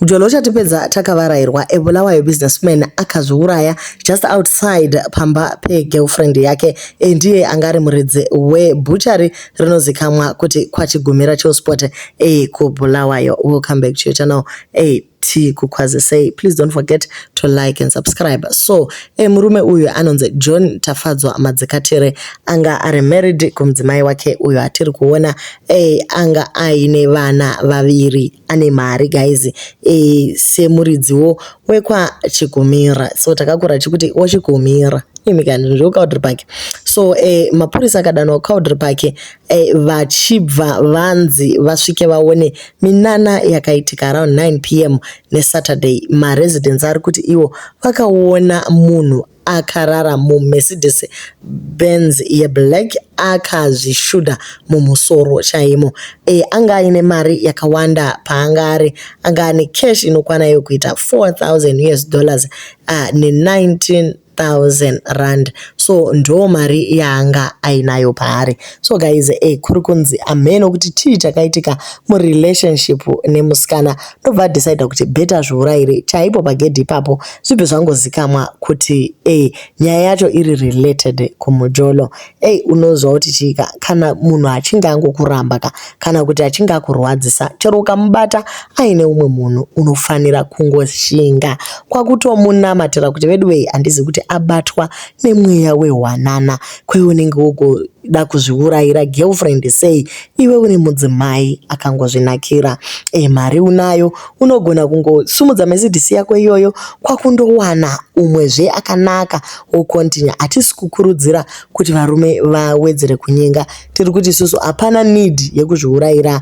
Mjolo uchatipedza takavarairwa a Bulawayo businessman akazviuraya just outside pamba pegirlfriend yake e ndiye anga ari muridzi webhuchari rinozikamwa kuti kwaChigumira Chillspot e kuBulawayo. Welcome back to your channel e tikukwazisei. Please don't forget to like and subscribe. So e murume uyu anonzi John Tafadzwa Madzikatire anga ari married kumudzimai wake uyo atiri kuona Eh, anga aine vana vaviri ane mari guys eh, semuridziwo wekwachikumira so takakura chikuti wachikumira imi kani zvekucowdry park so eh, mapurisa akadanwa kucowdry park eh, vachibva vanzi vasvike vaone minana yakaitika around 9 pm nesaturday maresidents ari kuti iwo vakaona munhu akarara muMercedes Benz yeblack akazvishuda mumusoro chaimo. E, anga aine mari yakawanda paanga ari. Anga ane cash inokwana yokuita 4000 US dollars uh, ne 19 thousand rand so ndo mari yaanga ainayo paari so guys e kuri kunzi amheno kuti chii chakaitika murelationship nemusikana ndobva adecider kuti better zviurayire chaipo pagedhi ipapo zvibve zvangozikamwa kuti ey nyaya yacho iri related kumujolo ey unozwa kuti chiika kana munhu achinge angokuramba ka kana kuti achinge akurwadzisa chero ukamubata aine umwe munhu unofanira kungoshinga kwakutomunamatira kuti veduwei handizi kuti abatwa nemweya wehwanana kweunenge wogo da kuzviurayira girlfriend sei iwe uri mudzimai akangozvinakira e mari unayo unogona kungosumudza mesidisi yako iyoyo kwakundowana umwe zve akanaka wocontinue hatisi kukurudzira kuti varume vawedzere kunyenga tiri kuti isusu hapana need yekuzviurayira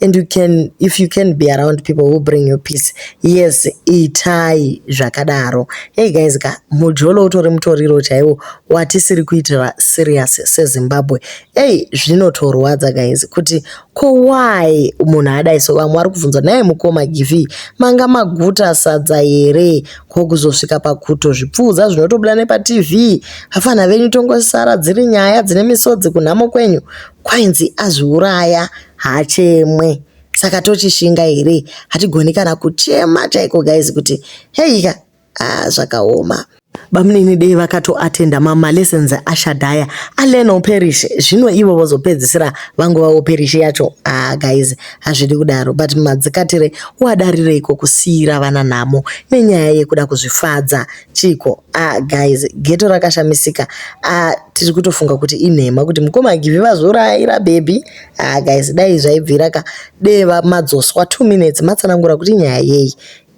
and you can if you can be around people who bring you peace yes itai zvakadaro hey guys ka mujolo utori mutoriro chaiwo watisiri kuitira serious sezimbabwe ei zvinotorwadza guys kuti ko why munhu adai so vamwe vari kubvunza naye mukoma givi manga maguta sadza here ko kuzosvika pakuto zvipfuudza zvinotobuda nepatv hafana venyu tongosara dziri nyaya dzine misodzi kunhamo kwenyu kwainzi azviuraya haachemwe saka tochishinga here hatigoni kana kuchema chaiko guys kuti heika ah, zvakaoma bamunini dei vakatoatenda mamalessons ashadhaya alena uperish zvino ivo vozopedzisira vangova uperish yacho ah guys hazvidi kudaro but madzikatire wadarireiko kusiira vana nhamo nenyaya yekuda kuzvifadza chiko ah guys geto rakashamisika ah tiri kutofunga kuti inhema kuti mukoma givi vazvuraira bhebhi Ah guys dai zvaibvira ka dei madzoswa 2 minutes matsanangura kuti nyaya yei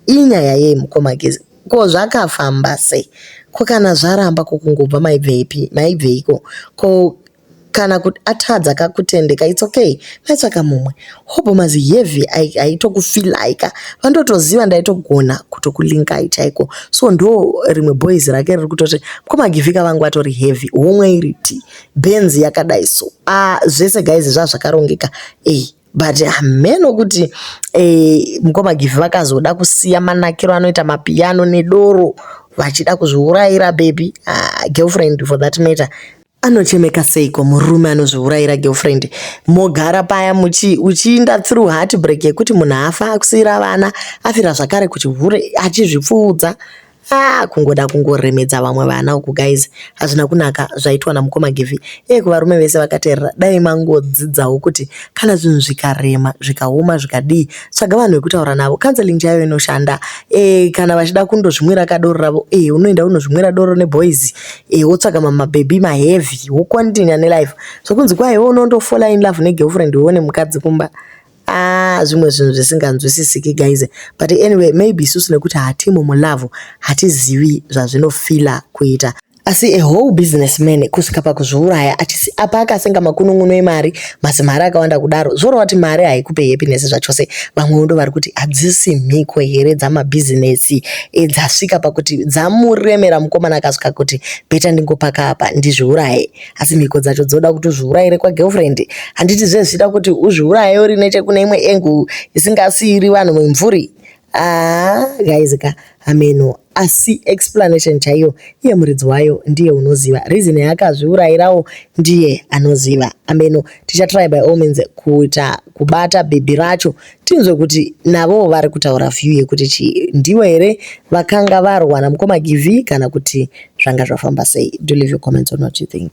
inyaya yei mukoma gezi ko zvakafamba sei ko kana zvaramba ko kungobva maibveipi maibveiko ko kana kuti atadza kakutendeka its okay maitsvaka mumwe hope mazi heavy aitokufilai ka vandotoziva ndaitogona kutokulinkai chaiko so ndo rimwe boys rake riri kutoti mkomagivika vangu atori heavy homwe iriti benzi yakadai so ah zvese guys zvazvakarongeka eh but hameno kuti eh mukoma give vakazoda kusiya manakiro anoita mapiano nedoro vachida kuzviurayira baby ah, girlfriend for that matter anochemeka seiko murume anozviurayira girlfriend mogara paya muchi uchiinda through heartbreak yekuti munhu afa akusiyira vana afira zvakare kuchihure achizvipfuudza Haa kungoda kungoremedza vamwe vana uku guys hazvina kunaka zvaitwa namukoma Givi iye kuvarume vese vakaterera dai mangodzidzawo kuti kana zvinhu zvikarema zvikaoma zvikadii tsvaga vanhu vekutaura navo counseling chaiyo inoshanda e, kana vachida kundozvimwira kadoro ravo e, unoenda unozvimwira doro neboys e, wotsvaga mamabhebhi maheavy wocontinua nelife zvokunzi kwaiwo unondofola in love negirlfriend uone mukadzi kumba ah zvimwe zvinhu zvisinganzwisisiki guys but anyway maybe isusu nekuti hatimo mulove hatizivi zvazvinofila kuita asi a whole business man kusvika pakuzviuraya achisi apa akasenga makunun'uno emari mazimari akawanda kudaro zvorova kuti mari haikupe happiness zvachose vamwewo ndo vari kuti hadzisi mhiko here dzamabhizinesi edzasvika pakuti dzamuremera mukomana akasvika kuti beta ndingopaka apa ndizviuraye asi mhiko dzacho dzoda kuti uzviuraire kwagirlfriend handiti zve zvichida kuti uzviuraye uri nechekune imwe engu isingasiiri vanhu vemvuri aa guys ka hameno asi explanation chaiyo iye muridzi wayo ndiye unoziva reason yaakazviurairawo ndiye anoziva ameno tichatry by all means kuita kubata bhebhi racho Tinzwe kuti navowo vari kutaura view yekuti chii. Ndivo here vakanga varwa namukoma Givhi kana kuti zvanga zvafamba sei? Do leave your comments on what you think.